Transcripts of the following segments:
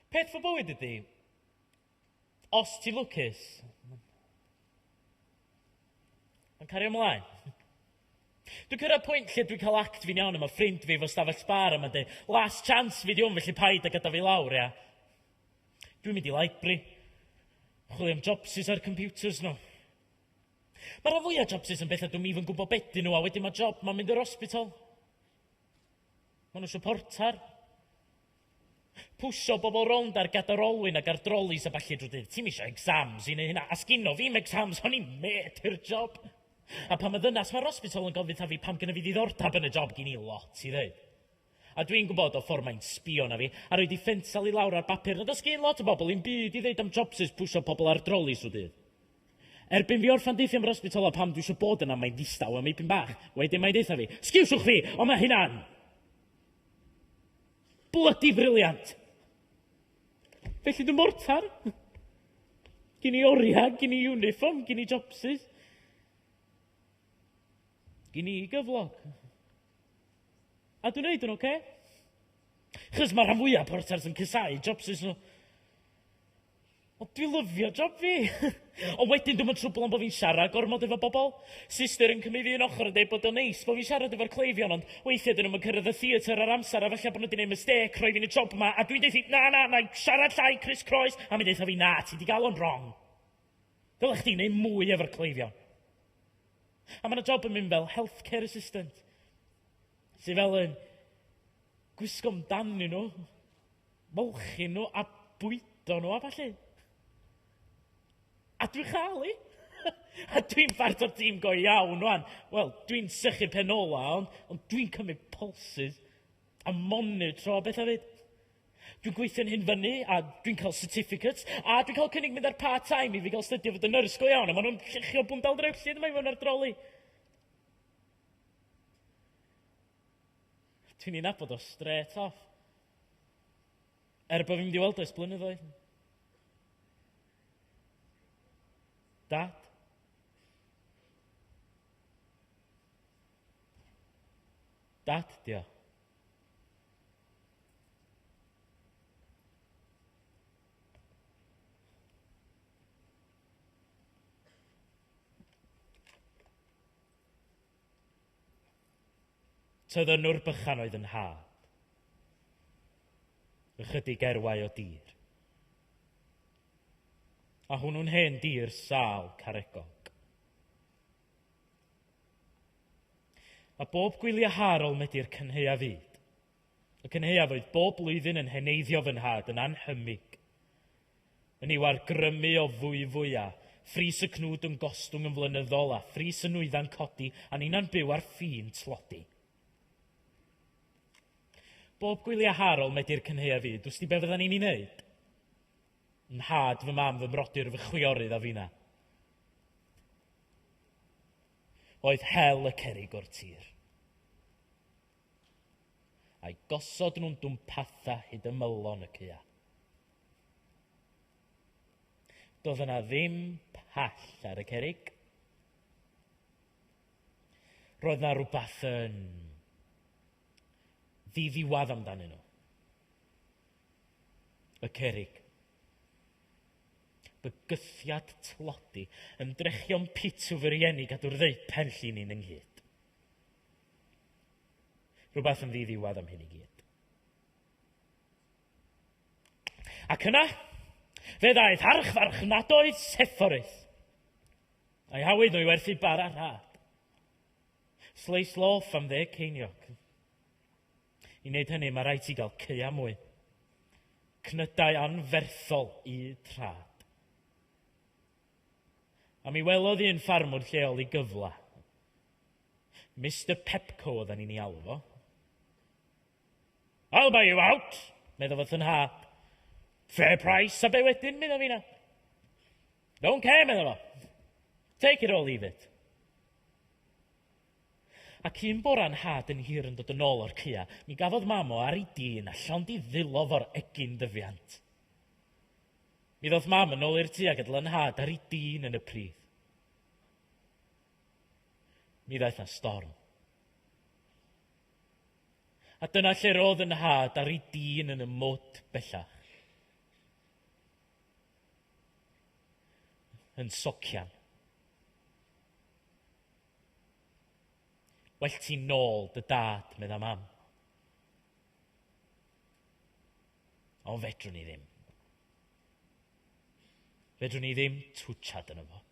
Peth fy bywyd ydi, os ti'n lwcus, mae'n cario ymlaen. Dwi'n cyrraedd pwynt lle dwi'n cael act fi'n iawn a mae ffrind fi fo stafell bar a mae'n dweud, last chance fi di hwn felly paid a gadael fi lawr, ia? Dwi'n mynd i library, chwilio am jobsus ar computers nhw. Ma rhan fwya jobsus yn betha dwi'm even gwbo be dyn nhw a wedyn ma job ma mynd yr hospital. Ma nhw isio portar. Pwsio bobl rownd ar gadar olwyn ag ar drolis a ballu drw dydd. Ti'm isio exams i neu hynna. A sgino fi'm exams o'n i'n met i'r job. A pan ma ddynas ma'r hospital yn gofyn tha fi pam gynna fi ddiddordab yn y job gin i lot i ddeud. A dwi'n gwybod o ffor mae'n sbio na fi a roi di ffensal i lawr ar bapur na does gin lot o bobl i'm byd i ddeud am jobsus pwsio pobl ar drolis drw dydd. Erbyn fi orffan deutha am yr ysbytol a pam dwi isio bod yna mae'n ddistaw am eipyn bach. Wedyn mae'n deutha fi, Sgewsiwch chi, ond mae hynna'n blydi briliant! Felly dwi'n mortar. Gin i oriau, gin i uniform, gin i jobsus. Gin i gyflog. A dwi'n neud yn oce. Okay? Chos mae rhan fwyaf portars yn cysau jobsus nhw. O dwi lyfio job fi! Ond wedyn dwi'm yn trwbl am bo fi'n siarad gormod efo bobl. Sister yn cymyd un ochr yn deud bod o'n neis bo fi'n siarad efo'r cleifion ond weithia dyn nhw'm yn cyrraedd y theatr ar amser a falla bo nhw di neud mistêc rhoi fi'n y job ma a dwi'n deutha na na nai siarad llai Chris Croes a mi deutha fi na ti di gal o'n rong. Ddyla chdi neud mwy efo'r cleifion. A ma na job yn mynd fel health care assistant sy fel yn gwisgo amdanyn nhw. Molchi nhw a bwydo nhw a ballu. A dwi'n chael i! a dwi'n part o'r tîm go iawn wan. Wel, dwi'n sychu pen ola, ond, ond dwi'n cymryd pulses a monitro beth a fyd. Dwi'n gweithio'n hyn fyny, a dwi'n cael certificates, a dwi'n cael cynnig mynd ar part-time i fi gael stydio fod yn nyrs go iawn, a maen nhw'n llechio bwndal drewllyd yma i fod ar droli. Dwi'n ei nabod o strêt off. Er bod fi'n mynd i weld o ers blynyddoedd. Dad? Dad, dio. Tyddynwr bychan oedd 'y nhad. Ychydig erwau o dir. A hwnnw'n hen dir sâl caregog. A bob gwylia harol medi'r cynheuaf fyd. Y cynhaeaf oedd bob blwyddyn yn heneiddio fy nhad yn annhymig. Yn i'w argrymu o fwyfwy a phris y cnwd yn gostwng yn flynyddol a phris y nwyddau'n codi a ninna'n byw ar ffin tlodi. Bob gwyliau har ol medi'r cynhaeaf fyd, wsti be fyddan ni'n ei wneud? Fy nhad, fy mam, fy mrodyr, fy chwiorydd a finna. Oedd hel y cerrig o'r tir. A'i gosod nhw'n dwmpatha hyd ymylon y caeau. Doedd yna ddim pell ar y cerig. Roedd na rhywbeth yn ddiddiwedd amdanyn nhw. Y cerig. Bygythiad tlodi, ymdrechion pitw fy rieni gadw'r ddeu penllin i'n ynghyd. Rhywbeth yn ddiddiwedd am hyn i gyd. Ac yna, fe ddaeth archfarchnadoedd Sephoris. A'i hawyd nhw i werthu bara rhad. Sleis loff am ddeg ceiniog. I wneud hynny, mae rhaid ti gael ceia mwy. Cnydau anferthol i trad. A mi welodd un ffarmwr lleol i gyfle Mister Pepco oedden ni'n ei alw fo. I'll buy you out, meddwl fy thynha. Fair price, a be wedyn, meddwl fi na. Don't care, meddwl fo. Take it or leave it. Ac un bora'n had yn hir yn dod yn ôl o'r cua, mi gafodd mam o ar ei dîn a llawn di ddilo fo'r egin dyfiant. Mi ddoth mam yn ôl i'r tŷ a gydl yn had ar ei dîn yn y pridd. Mi ddaeth na storm. A dyna lle roedd yn nhad ar ei dîn yn y mwd bellach. Yn socian. Well ti'n nôl dy dad, medda mam. Ond fedrwn ni ddim. Fedrwn ni ddim twtshad yn yma.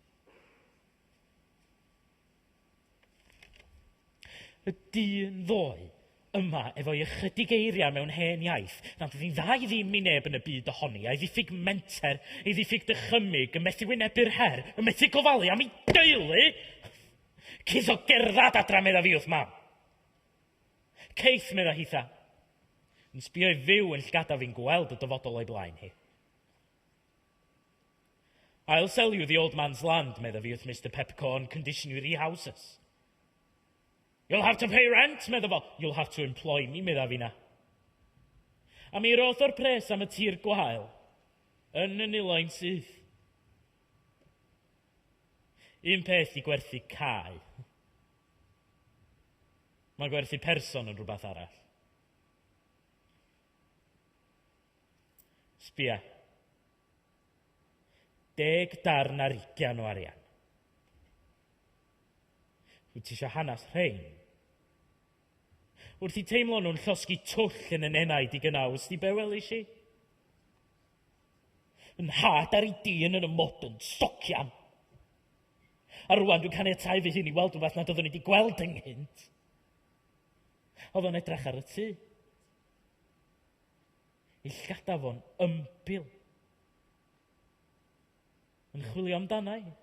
Y dyn ddoe yma efo'i ychydig eiriau mewn hen iaith, nad oedd hi'n dda i ddim i neb yn y byd ohoni, a'i ddiffyg menter, ei ddiffyg dychymyg, yn methu wynebu'r her, yn methu gofalu am ei deulu! Cith o gerdded adra, medda fi wrth mam. Cith, medda hi tha. Yn sbio i fyw yn llgada fi'n gweld y dyfodol o'i blaen hi. I'll sell you the old man's land, medda fi wrth Mister Pepcorn, condition you rehouses. You'll have to pay rent, medda fo. You'll have to employ me, medda fi na. A mi roth o'r pres am y tir gwael, yn y niloi'n syth. Un peth i gwerthu cae. Mae gwerthu person yn rhywbeth arall. Sbia. Deg darn ar ugian o arian. Wyt ti eisiau hanes rhein? Wrth i teimlo nhw'n llosgi twll yn y nenaid i gynnau, ysdi be welis i? Yn nhad ar ei dîn yn y modyn, stocian. A rwan dwi'n caniatau fy hun i weld rhywbeth nad oeddwn i wedi gweld ynghynt. Oedd o'n edrach ar y tŷ. Y llgadafo'n ymbil. Yn chwilio amdana i.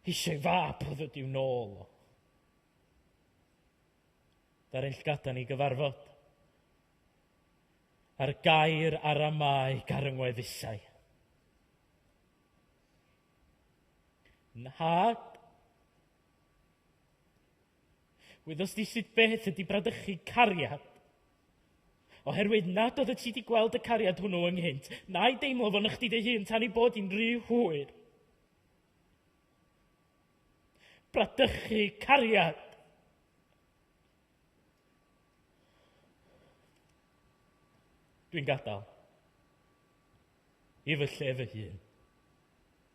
Eisiau fab oedd ydi i'w nôl o. Dar yn llgada ni gyfarfod. A'r gair ar amau garyngweddusau. Nhad, Wyddost di sut beth ydy bradychu cariad? Oherwydd nad oedd y ti di gweld y cariad hwnnw ynghynt, na'i deimlo fo'n ychdi dy hun tan ei bod hi'n rhy hwyr. Bradychu cariad! Dwi'n gadael. I fy lle fy hun.